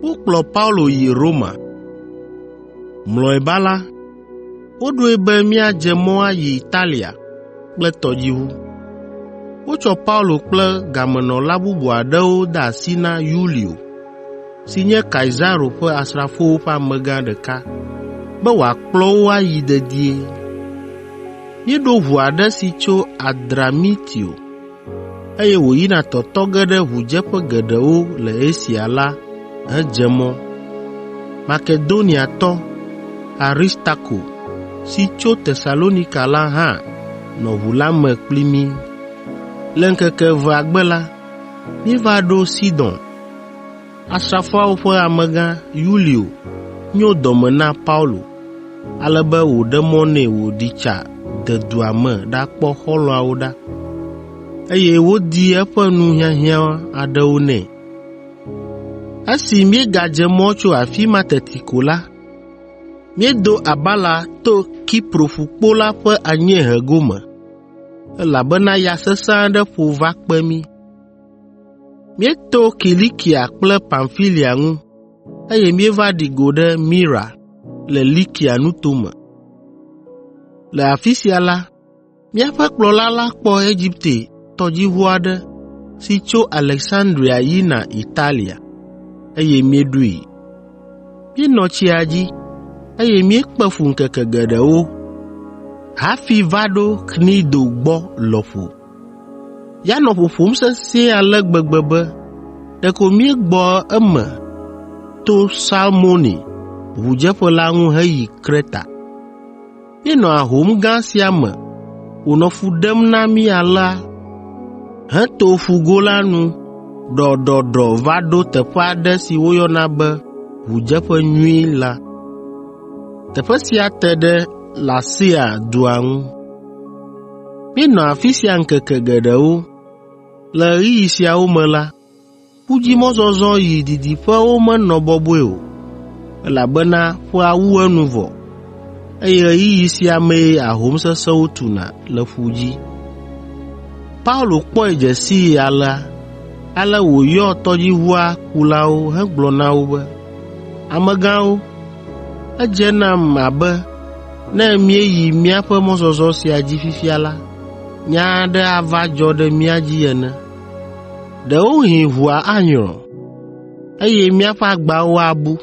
Wokplɔ Paulo yi Roma. Mlɔeba la, woɖoe be míadze mɔ ayi Italia kple tɔdziʋu. Wotsɔ Paulo kple gamenɔla bubu aɖewo de asi na Yulio, si nye Kaisaro ƒe asrafowo ƒe amegã ɖeka, be wòakplɔ wo ayi dedie. Míeɖo ʋu aɖe si tso Adramitio, eye wòyina tɔtɔ ge ɖe ʋudzeƒe geɖewo le Asia la hedze mɔ. Makedoniatɔ Aristarko si tso Tesalonika la hã nɔ ʋu la me kpli mí. Le ŋkeke evea gbe la, míeva ɖo Sidon. Asrafoawo ƒe amegã Yulio nyo dɔme na Paulo ale be wòɖe mɔ nɛ wòɖi tsa de dua me ɖakpɔ xɔlɔ̃awo ɖa, eye wodi eƒe nu hiahiã aɖewo nɛ. Esi míegadze mɔ tso afi ma teti ko la, míedo abala to Kipro ƒukpo la ƒe anyiehe gome, elabena ya sesẽ aɖe ƒo va kpe mí. Míeto Kilikia kple Pamfilia ŋu, eye míeva ɖi go ɖe Mira le Likia nuto me. Le afi sia la, míaƒe kplɔla la kpɔ Egipte tɔdziʋu aɖe si tso Aleksandria yina Italia, eye míeɖoe. Míenɔ tsia dzi, eye míekpe fu ŋkeke geɖewo hafi va ɖo Knido gbɔ lɔƒo. Ya nɔ ƒoƒom sesĩe ale gbegbe be ɖeko míegbɔ eme to Salmoni ʋudzeƒe la ŋu heyi Kreta. Míenɔ ahom gã sia me wònɔ fu ɖem na mí alea heto Ƒugo la nu ɖɔɖɔɖɔ va ɖo teƒe aɖe si woyɔna be Ʋudzeƒe Nyui la. Teƒe sia te ɖe Lasea dua ŋu. Míenɔ afi sia ŋkeke geɖewo. Le ɣeyiɣi siawo me la, ƒu dzi mɔzɔzɔ yi didiƒewo menɔ bɔbɔe o, elabena ƒea wu enu vɔ, eye ɣeyiɣi sia mee ahom sesẽwo tuna le ƒu dzi. Paulo kpɔe dze sii alea, ale wòyɔ tɔdziʋua kulawo hegblɔ na wo be, “Amegãwo, edze nam abe Ne míeyi míaƒe mɔzɔzɔ sia dzi fifia la, nya aɖe ava dzɔ ɖe mía dzi ene. Ɖewohĩ ʋua anyrɔ, eye míaƒe agbawo abu,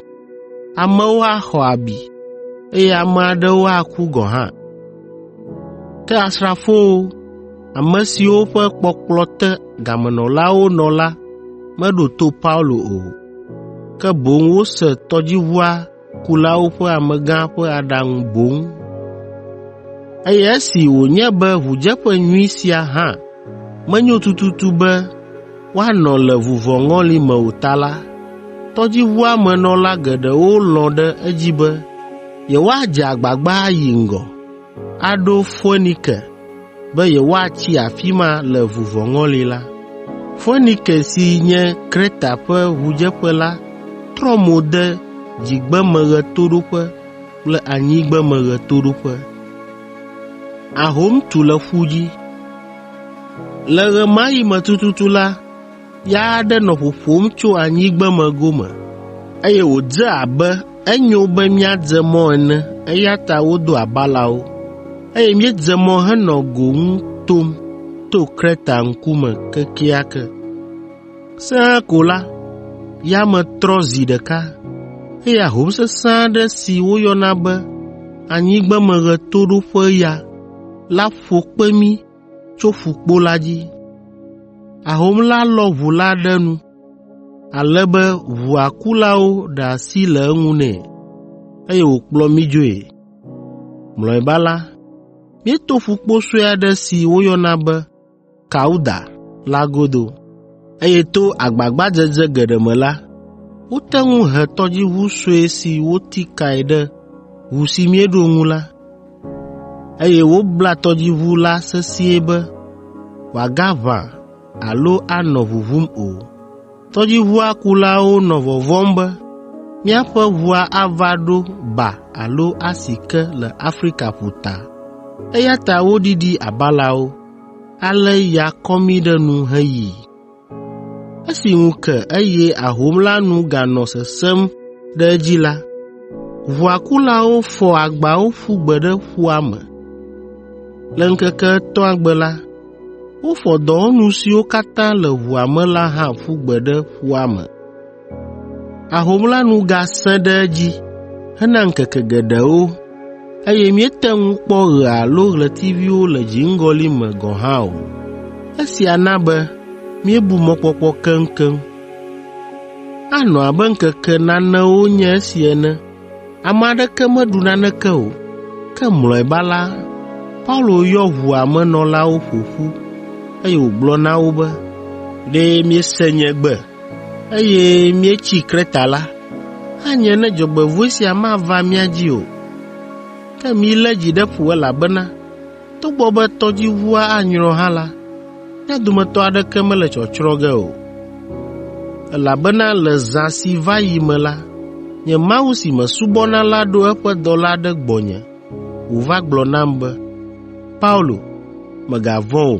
amewo axɔ abi, eye ame aɖewo aku gɔ̃ hã. Ke asrafowo, ame siwo ƒe kpɔkplɔ te gamenɔlawo nɔ la meɖo to Paulo o, ke boŋ wose tɔdziʋua kulawo ƒe amegã ƒe aɖaŋu boŋ, eye esi wònye be ʋudzeƒe nyui sia hã menyo tututu be woanɔ le vuvɔŋɔli me o ta la, tɔdziʋua me nɔla geɖewo lɔ̃ ɖe edzi be yewoadze agbagba ayi ŋgɔ. aɖo Foenike be yewoatsi afi ma le vuvɔŋɔli la. Foenike si nye Kreta ƒe ʋudzeƒe la trɔ mo de dzigbemeɣetoɖoƒe kple anyigbemeɣetoɖoƒe. Ahom tu le ƒu dzi. Le ɣemaɣi me tututu la, Ya aɖe nɔ ƒoƒom tso anyigbeme gome, eye wòdze abe enyo be míadze mɔ ene, eya ta wodo abalawo, eye míedze mɔ henɔ go ŋu tom to Kreta ŋkume kekeake. Sẽe ko la, yame trɔ zi ɖeka, eye ahom sesẽ aɖe si woyɔna be anyigbemeɣetoɖoƒeya la ƒo kpe mí tso ƒukpo la dzi. Ahom la lɔ ʋu la ɖe nu, ale be ʋua kulawo ɖe asi le eŋu nɛ, eye wòkplɔ mí dzoe. Mlɔeba la, míeto ƒukpo sue aɖe si woyɔna be Kauda la godo, eye to agbagbadzedze geɖe me la, wote ŋu he tɔdziʋu sue si woti kae ɖe ʋu si míeɖo ŋu la. eye wobla tɔdziʋu la sesĩe be wòagaʋã alo anɔ ʋuʋum o. Tɔdziʋua kulawo nɔ vɔvɔ̃m be míaƒe ʋua ava ɖo ba alo asi ke le Afrika ƒuta, eya ta woɖiɖi abalawo, ale ya kɔ mí ɖe nu heyi. Esi ŋu ke eye ahom la nu ganɔ sesẽm ɖe edzi la, ʋua kulawo fɔ agbawo ƒu gbe ɖe ƒua me. Le ŋkeke etɔ̃a gbe la, wofɔ dɔwɔnu siwo katã le ʋua me la hã ƒu gbe ɖe ƒua me. Ahom la nu gasẽ ɖe edzi hena ŋkeke geɖewo, eye míete ŋu kpɔ ɣe alo ɣletiviwo le dziŋgɔli me gɔ̃ hã o. Esia na be míebu mɔkpɔkpɔ keŋkeŋ. Anɔ abe ŋkeke nanewo nye esi ene, ame aɖeke meɖu naneke o. Ke mlɔeba la, Paulo yɔ ʋua me nɔlawo ƒo ƒu, eye wògblɔ na wo be, “Ɖe miese nye gbe eye míetsi Kreta la, anye ne dzɔgbevɔ̃e sia mava mía dzi o. Ke milé dzi ɖe ƒo elabena togbɔ be tɔdziʋua anyrɔ hã la, mía dometɔ aɖeke mele tsɔtsrɔ̃ ge o, elabena le zã si va yi me la, nye Mawu si mesubɔna la ɖo eƒe dɔla ɖe gbɔnye wòva gblɔ nam be, ‘Paulo, mègavɔ̃ o,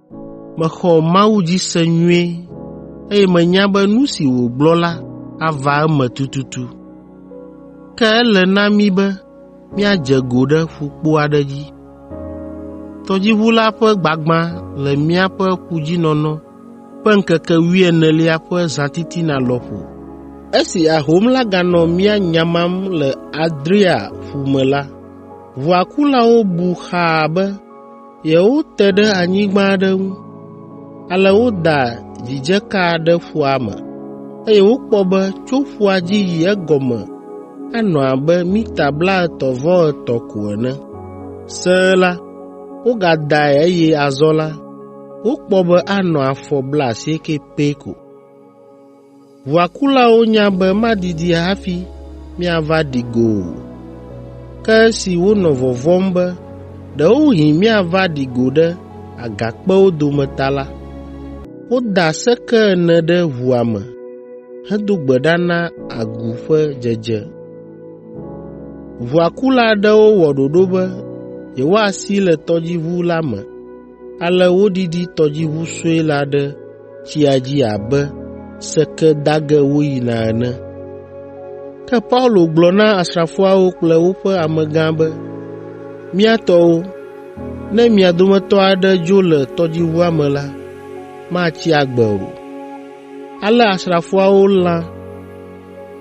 Mexɔ Mawu dzi se nyuie, eye menya be nu si wògblɔ la ava eme tututu. Ke ele na mí be míadze go ɖe ƒukpo aɖe dzi. Tɔdziʋu la ƒe gbagbã le míaƒe ƒudzinɔnɔ ƒe ŋkeke wuienelia ƒe zãtitina lɔƒo. Esi ahom la ganɔ mía nyamam le Adria ƒu me la, ʋua kulawo bu xaa be Yewote ɖe anyigba aɖe ŋu, ale woda dzidzeka ɖe ƒua me, eye wokpɔ be tso ƒua dzi yi egɔme anɔ abe mita blaetɔ̃ vɔ etɔ̃ ko ene. Sẽe la, wogadae eye azɔ la, wokpɔ be anɔ afɔ blaasieke pɛ ko. Ʋua kulawo nya be madidi hafi miava ɖi go o. Ke esi wonɔ vɔvɔ̃m be ɖewohĩ miava ɖi go ɖe agakpewo dome ta la, woda seke ene ɖe ʋua me hedo gbe ɖa na agu ƒe dzedze. Ʋua kula aɖewo wɔ ɖoɖo be yewoasi le tɔdziʋu la me, ale wodidi tɔdziʋu sue la ɖe tsia dzi abe sekedage woyina ene. Ke Paulo gblɔ na asrafoawo kple woƒe amegã be, “Mía tɔwo, ne mia dometɔ aɖe dzo le tɔdziʋua me la, matsi agbe o.” Ale asrafoawo lã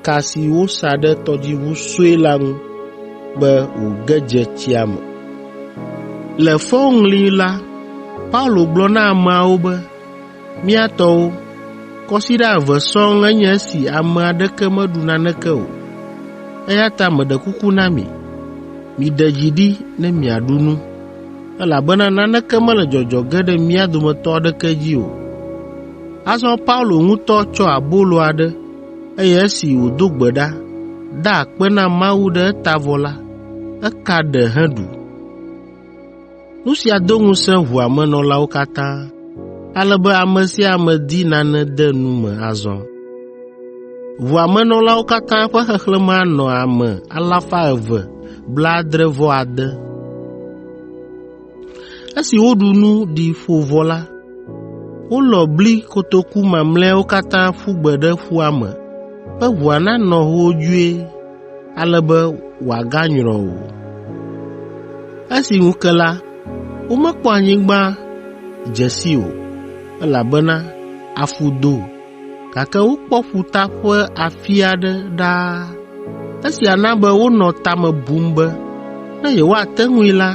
ka si wosa ɖe tɔdziʋu sue la ŋu be wòge dze tsia me. Le fɔŋli la, Paulo gblɔ na ameawo be, “Mía tɔwo, kɔsiɖa eve sɔŋ enye esi ame aɖeke meɖu naneke o. Eya ta meɖe kuku na mi, miɖe dzi ɖi ne miaɖu nu, elabena naneke mele dzɔdzɔ ge ɖe mía dometɔ aɖeke dzi o.” Azɔ Paulo ŋutɔ tsɔ abolo aɖe, eye esi wòdo gbe ɖa, da akpe na Mawu ɖe eta vɔ la, eka ɖe heɖu. Nu sia do ŋusẽ ʋua me nɔlawo katã, ale be ame sia ame di nane de nu me azɔ. Ʋua me nɔlawo katã ƒe xexlẽme anɔ ame alafa eve blaadre-vɔ-ade (276). Esi woɖu nu ɖi ƒo vɔ la, wolɔ bli kotoku mamlɛawo katã ƒu gbe ɖe ƒua me be ʋua nanɔ hoodzoe ale be wòaganyrɔ o. Esi ŋu ke la, womekpɔ anyigba dze sii o, elabena afu do. gake wokpɔ ƒuta ƒe afi aɖe ɖaa. Esia na be wonɔ ta me bum be ne yewoate ŋui la,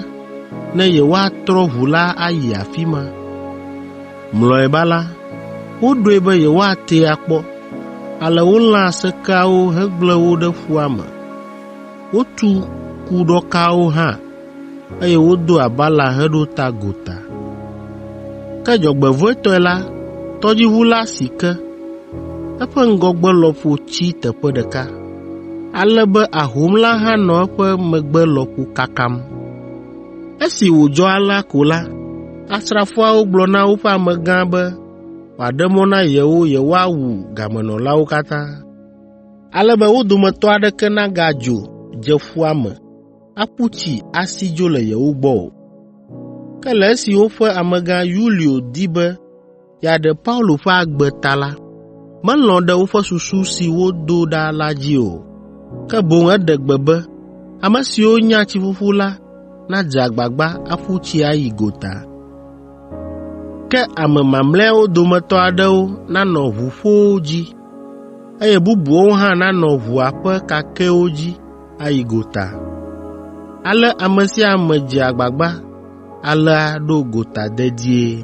ne yewoatrɔ ʋu la ayi afi ma. Mlɔeba la, woɖoe be yewoatee akpɔ, ale wolã sekeawo hegblẽ wo ɖe ƒua me. Wotu kuɖɔkawo hã, eye wodo abala heɖo ta gota. Ke dzɔgbevɔ̃etɔe la, tɔdziʋu la si ke, eƒe ŋgɔgbe lɔƒo tsi teƒe ɖeka, ale be ahom la hã nɔ eƒe megbe lɔƒo kakam. Esi wòdzɔ alea ko la, asrafoawo gblɔ na woƒe amegã be wòaɖe mɔ na yewo yewoawu gamenɔlawo katã, ale be wo dometɔ aɖeke nagadzo dze ƒua me. aƒu tsi asi dzo le yewo gbɔ o. Ke le esi woƒe amegã Yulio di be yeaɖe Paulo ƒe agbe ta la, melɔ̃ ɖe woƒe susu si wodo ɖa la dzi o, ke boŋ eɖe gbe be ame siwo nya tsiƒuƒu la nadze agbagba aƒu tsi ayi gota. Ke ame mamlɛawo dometɔ aɖewo nanɔ ʋuƒowo dzi, eye bubuawo hã nanɔ ʋua ƒe kakɛwo dzi ayi gota. Ale ame sia ame dze agbagba alea ɖo gota dedie.